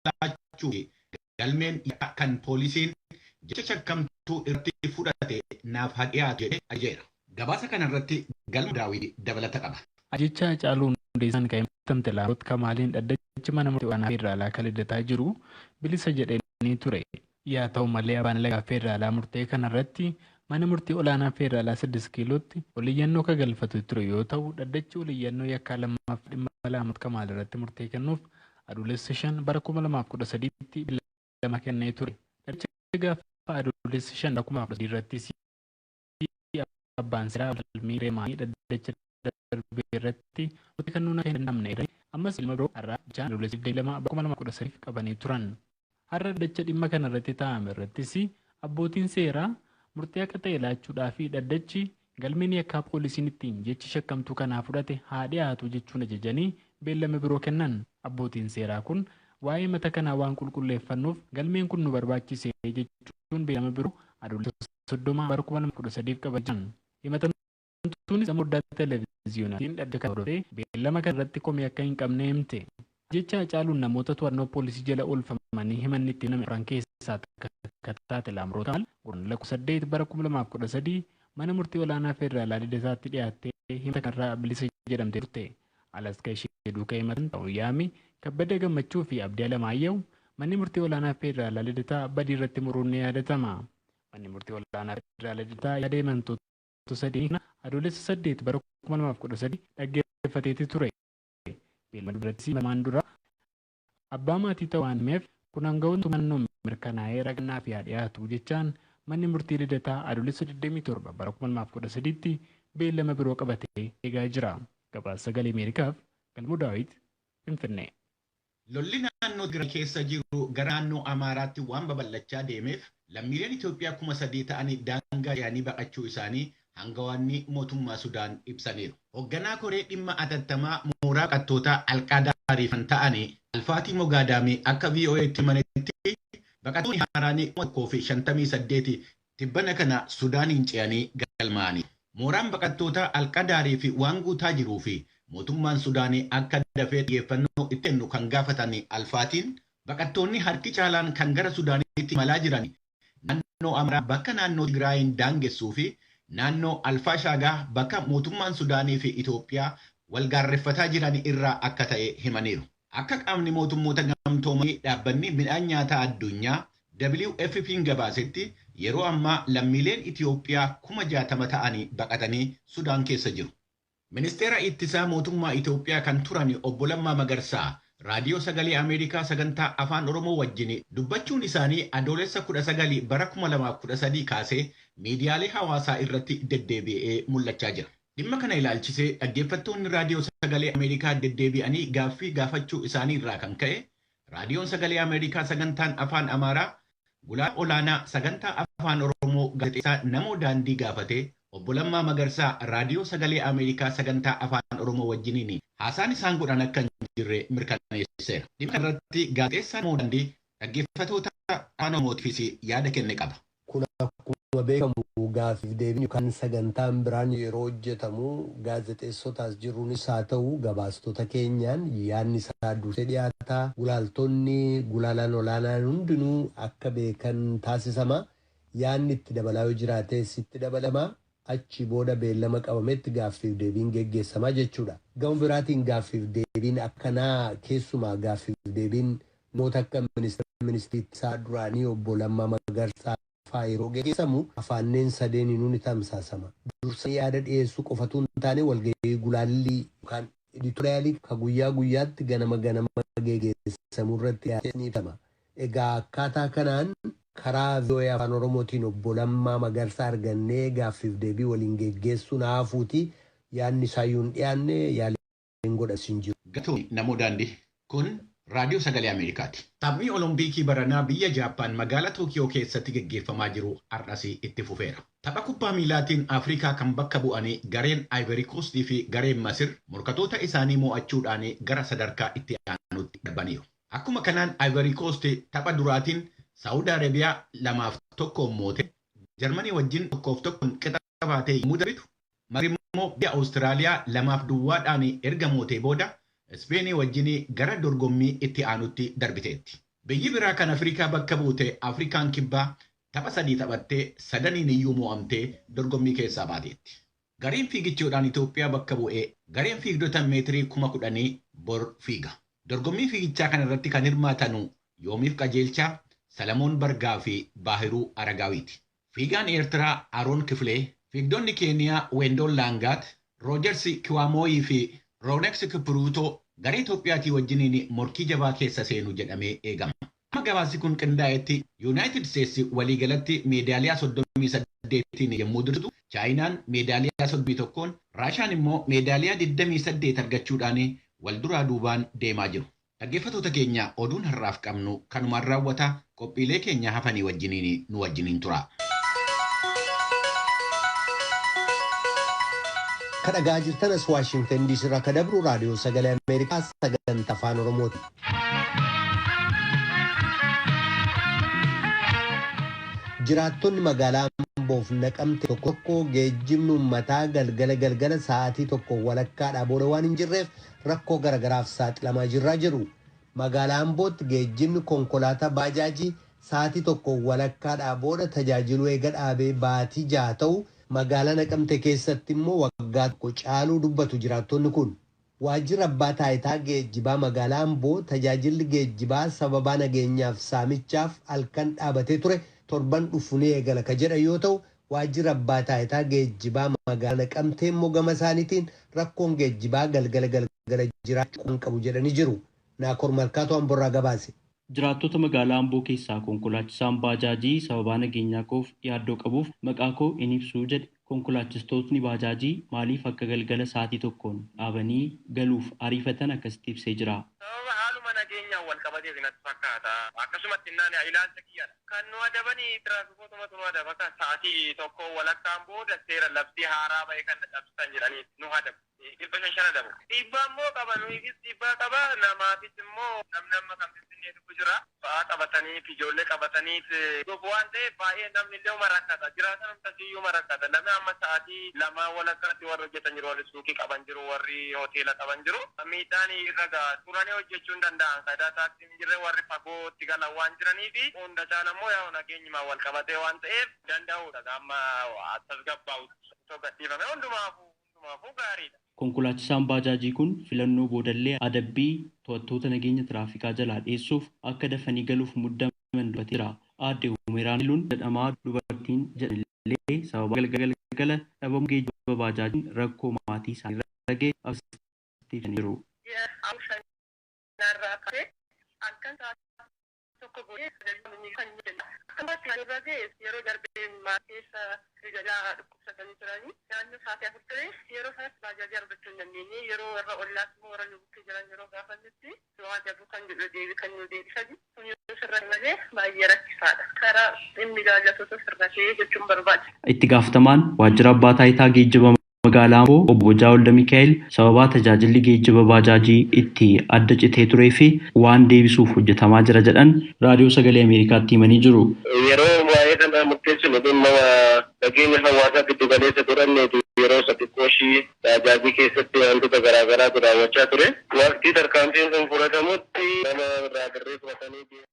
laachuu fi galmeen yakkaa kan poolisiin jecha shakkamtuu irratti fudhate naaf haa dhiyaatu jedhee ajajeera. Gabaasa kana irratti Galmoo Daawit dabalata qaba. Ajjeechaa Hacaaluu Hundeessaan kan himatamte Laamroot Kamaaliin dhaddachi mana murtii olaanaa federaalaa kan Lidataa jiru bilisa jedhanii ture. Yaa ta'u malee Abbaan Alangaa Feederaalaa murtee kana irratti Mana Murtii Olaanaa Feederaalaa Siddist Kiilootti ol iyyannoo ka galfatee ture yoo ta'u, Dhaddachi Ol Iyyannoo Yakkaa Lammaaf dhimma Alaamot Kamaal irratti murtee kennuuf Adoolessa 5 bara 2013tti beellama kennee ture. Dhaddacha gaafa Adoolessa 5 bara 2013 irrattis, Murtii abbaan seeraa falmii Remaanii dhaddacha darbe irratti murtii kennuu akka hin danda'amne eeranii, ammas beellama biroo har'aa jechaan Adoolessa 22 bara 2013f qabanii turan. Har'a dhaddacha dhimma kana irratti taa'ame irrattis abbootiin seeraa murtii haqa ta'e laachuudhaa fi dhaddachi galmeen yakkaa poolisiin ittiin jechi shakkamtuu kanaa fudhate haa dhiyaatu jechuun ajajanii beellama biroo kennan. Abbootiin seeraa kun waa'ee himata kanaa waan qulqulleeffannuuf galmeen kun nu barbaachise jechuun beellama biroo Adoolessa 30 bara 2013 qaba jedhan. Himatamtuunis dhimma foddaa televiziyoonaatiin dhaddacha kana hordofee beellama kana irratti komii akka hin qabne himte. Ajjeechaa Hacaaluun namoota to'annoo poolisii jala oolfamanii himanni itti baname afran keessaa takka akka taate Laamroot Amaal Guraandhala 18 bara 2013 Mana Murtii Olaanaa Federaalaa Lidataatti dhiyaattee himata kanarraa bilisa jedhamtee turte. Alas kan ishee duuka himatan ta'uun yaami Kabbada Gammachuu fi Abdii Alamaayyahu Manni Murtii Olaanaa Federaalaa Lidataa badii irratti muruun ni yaadatama. Manni Murtii Ol'aanaa Federaalaa Liddataa yaada himantoota sadeenii kana Adoolessa 8 bara 2013 dhaggeeffateeti ture. Beellama durattis lamaan dura abbaa maatii ta'uu waan himeef kun aanga'oota mootummaa naannoon mirkanaa'ee ragaan naaf yaa dhiyaatu jechaan Manni Murtii Lidataa Adoolessa 27 bara 2013tti beellama biroo qabatee eegaa jira. Gabaasa Sagalee Ameerikaaf Galmoo Daawit, Finfinnee. Lolli naannoo Tigraay keessa jiru gara naannoo Amaaraatti waan babal'achaa deemeef lammiileen Itoophiyaa kuma sadii ta'an daangaa ce'anii baqachuu isaanii hangawaanni mootummaa Sudaan ibsaniiru. Hogganaa koree dhimma atattamaa mooraa baqattootaa Al-Qaadaariif kan ta'an Alfaatii Mogaadaamii akka VOA'tti himanitti, baqattooni haaraan kuma tokkoo fi shantamii saddeet Tibbana kana Sudaaniin ce'anii galmaa'aniiru. Mooraan baqattootaa Al-Qadaarii fi waan guutaa jiruu fi mootummaan Sudaanii akka dafee xiyyeeffannoo itti kennu kan gaafatan Al-Faatiin, baqattoonni harki caalaan kan gara Sudaaniitti imalaa jiran naannoo Amaaraa bakka naannoo Tigraayiin daangessuu fi naannoo Al-Faashaagaa bakka mootummaan Sudaanii fi Itoophiyaa wal gaarreffataa jiran irraa akka ta'e himaniiru. Akka Qaamni Mootummoota Gamtoomanii Dhaabbanni Midhaan Nyaataa Addunyaa, WFPn gabaasetti yeroo ammaa lammiileen Itiyoophiyaa kuma 60 ta'ani baqatanii Sudaan keessa jiru. Ministeera Ittisaa Mootummaa Itiyoophiyaa kan turani Obbo Lammaa Magarsaa Raadiyoo Sagalee Ameerikaa Sagantaa Afaan Oromoo wajjini dubbachuun isaanii Adoolessa 19 bara 2013 kaasee miidiyaalee hawaasaa irratti deddeebi'ee mul'achaa jira. Dhimma kana ilaalchisee dhaggeeffattoonni Raadiyoo Sagalee Ameerikaa deddeebi'anii gaaffii gaafachuu isaanii irraa kan ka'e Raadiyoon Sagalee Ameerikaa Sagantaan Afaan Amaaraa Gulaalaa Olaanaa Sagantaa Afaan Oromoo Gaazexeessaa Namoo Daandii gaafatee Obbo Lammaa Magarsaa Raadiyoo Sagalee Ameerikaa Sagantaa Afaan Oromoo wajjiniin haasaan isaan godhan akka hin jirre mirkaneesseera. Dhimma kana irratti Gaazexeessaa Namoo Daandii dhaggeeffatoota Afaan Oromootiifis yaada kenne qaba. Kun akkuma beekamu gaaffiif deebiin yookaan sagantaan biraan yeroo hojjetamu gaazexeessota as jirruunis haa ta'u gabaastota keenyaan yaadni isaa dursee dhiyaata, gulaaltonni, gulaalaan olaanaan hundinuu akka beekan taasisama. Yaadni itti dabalaa yoo jiraates itti dabalama. Achii booda beellama qabametti gaaffiif deebiin geggeessama jechuudha. Gama biraatiin gaaffiif deebiin akkanaa keessumaa gaaffiif deebiin noota akka Ministira Ministrii Ittisaa duraanii Obbo Lammaa Magarsaa faa yeroo geggeessamu afaanneen sadeeniinuu ni tamsaasama. Dursanii yaada dhiyeessuu qofatuu hin taane walgahii gulaallii yookaan editorial ka guyyaa guyyaatti ganama ganama geggeessamu irratti dhiyaates ni ibsama. Egaa akkaataa kanaan karaa voa Afaan Oromootiin Obbo Lammaa Magarsaa argannee gaaffiif deebii waliin geggeessuun haa hafuutii yaadni isaayyuu hin dhiyaanne, yaaliin godhames hin jiru. Galatoomi Namoo Daandii. Kun Raadiyoo Sagalee Ameerikaati. Taphni Olompiikii baranaa biyya Jaappaan magaala Tookiyoo keessatti geggeeffamaa jiru har'as itti fufeera. Tapha kubbaa miilaatiin Afrikaa kan bakka bu'anii gareen Ivory Coast fi gareen Masir morkatoota isaanii mo'achuudhaan gara sadarkaa itti aanuutti darbaniiru. Akkuma kanaan Ivory Coast tapha duraatiin Saa'ud Arabiyaa 2 fi 1n mootee Jarmanii wajjin 1 fi 1n qixa baatee yommuu darbitu, Masri immoo biyya Awustiraaliyaa 2 fi duwwaadhaan erga mootee booda Ispeenii wajjin gara dorgommii itti aanutti darbiteetti. Biyyi biraa kan Afrikaa bakka buute Afrikaan Kibbaa tapha sadii taphattee sadaniiniyyuu mo'amtee dorgommii keessaa baateetti. Gareen fiigichoodhaan Itoophiyaa bakka bu'e gareen fiigdota meetirii kuma kudhanii bor fiiga. Dorgommii fiigichaa kana irratti kan hirmaatanu Yoomiif Qajeelchaa, Salamoon Bargaa fi Baahiruu Aragaawiiti. Fiigaan Eertiraa Aroon Kifilee, fiigdonni Keeniyaa Weendoon Laangaat, Roojarsi Kiwaamooyii fi Rooneks Kipruutoo garee Itoophiyaatii wajjiniin morkii jabaa keessa seenu jedhamee eegama. Amma gabaasi kun qindaa'etti Yunaayitid Isteetsi waliigalatti meedaaliyaa 38n yemmuu dursitu, Chaayinaan meedaaliyaa 31n, Raashaan immoo meedaaliyaa 28 argachuudhaan wal duraa duubaan deemaa jiru. Dhaggeeffatoota keenya oduun har'aaf qabnu kanumaan raawwata, qophiilee keenya hafanii wajjiniin nu wajjiniin turaa. Ka dhaga'aa jirtan as Washington DC irraa ka dabru Raadiyoo Sagalee Ameerikaa sagantaa Afaan Oromooti. Jiraattonni magaalaa Amboof Naqamte tokko tokko geejjibni uummataa galgala galgala sa'aatii tokko walakkaadhaa booda waan hin jirreef rakkoo garagaraaf saaxilamaa jirraa jedhu. Magaalaa Ambootti geejjibni konkolaataa baajaajii sa'aatii tokko walakkaadhaa booda tajaajiluu eega dhaabee baatii jaha ta'u magaalaa Naqamte keessatti immoo waggaa tokko caaluu dubbatu jiraattonni kun. Waajjirri Abbaa Taayitaa Geejjibaa Magaalaa Amboo tajaajilli geejjibaa sababaa nageenyaaf saamichaaf halkan dhaabatee ture torban dhufu ni eegala ka jedhan yoo ta'u, Waajjirri Abbaa Taayitaa Geejjibaa Magaalaa Naqamtee immoo gama isaaniitiin rakkoon geejjibaa galgala galgala jiraachuu quban qabu jedhanii jiru. Naakoor Malkaatu Amborraa gabaase. Jiraattota magaalaa Amboo keessaa konkolaachisaan baajaajii sababaa nageenyaa koof yaaddoo qabuuf maqaa koo hin ibsu jedhe. Konkolaachistootni baajaajii maaliif akka galgala sa'aatii tokkoon dhaabanii galuuf ariifatan akkasitti ibsee jira. Sababa haaluma nageenyaan wal qabateeti natti fakkaata. Akkasumatti innaan ani ilaalcha kiyyan kan nu adabani tiraafikootuma tu nu adaba. Kan sa'aatii tokkoo walakkaan booda seera labsii haaraa ba'e kana cabsitan jedhanii nu adabu. dhibbashan shana dabra. Dhiibbaa immoo qaba nuyiifis dhiibbaa qaba namaafis immoo namni amma kan finfinnee dhufu jira ba'aa qabataniit ijoollee qabataniit dhufu waan ta'eef baay'ee namni illeeuma rakkata jiraataan hundumti iyyuuma rakkata namni amma sa'aatii lamaa walakkaatti warri hojjetan jiru warri suuqii qaban jiru warri hoteela qaban jiru miidhaan irra ga'a turanii hojjechuu hin danda'an sayidaa taaksiin hin jirre warri fagootti galan waan jiraniifi hunda caala immoo yaa'u nageenyumaan walqabatee waan ta'eef danda'uudha amma tasgabbaa'utti osoo gadhiifame hundumaafuu. hundumaafuu gaariidha. Konkolaachisaan baajaajii kun filannoo boodallee adabbii to'attoota nageenya tiraafikaa jalaa dheessuuf akka dafanii galuuf muddaman dubbatee jira. Aadde Humeeraan Hayiluun jedhamaa dubartiin jedhanillee sababaa galgala galgala dhabamuu geejjiba baajaajiin rakkoo maatii isaaniirra gahe akkasitti ibsanii jiru. Ji'a Amajjii sanaarraa kaasee halkan sa'aatii tokko booddee sagalee mormii kan inni kennu akka maatti kan irra ga'e yeroo darbe maatiinsa Rijalaa dhukkubsatanii turanii naannoo sa'aatii afur ture yeroo sanatti baajaajii argachuu hin dandeenye yeroo warra ollaas immoo warra nu bukkee jiran yeroo gaafannutti du'aa dabuu kan jedhu deebii kan nuu deebisani kun yoo sirrate malee baay'ee rakkisaadha karaa dhimmi ilaallatutu sirratee jechuun barbaada. Itti gaafatamaan waajjira abbaa taayitaa geejjiba. Magaalaa Amboo Obbo Bojaa Waldamikaa'el sababaa tajaajilli geejjiba baajaajii itti adda citee tureef waan deebisuuf hojjetamaa jira jedhan Raadiyoo Sagalee Ameerikaatti himanii jiru. Yeroo waa'ee kanaa murteessinu dhimma nageenya hawaasaa giddu galeessa godhanneetu yeroo isa xiqqoo ishii baajaajii keessatti waantota garaa garaatu raawwachaa ture. Waqtii tarkaanfiin kun fudhatamutti nama irraa birrii fudhatanii deemuu.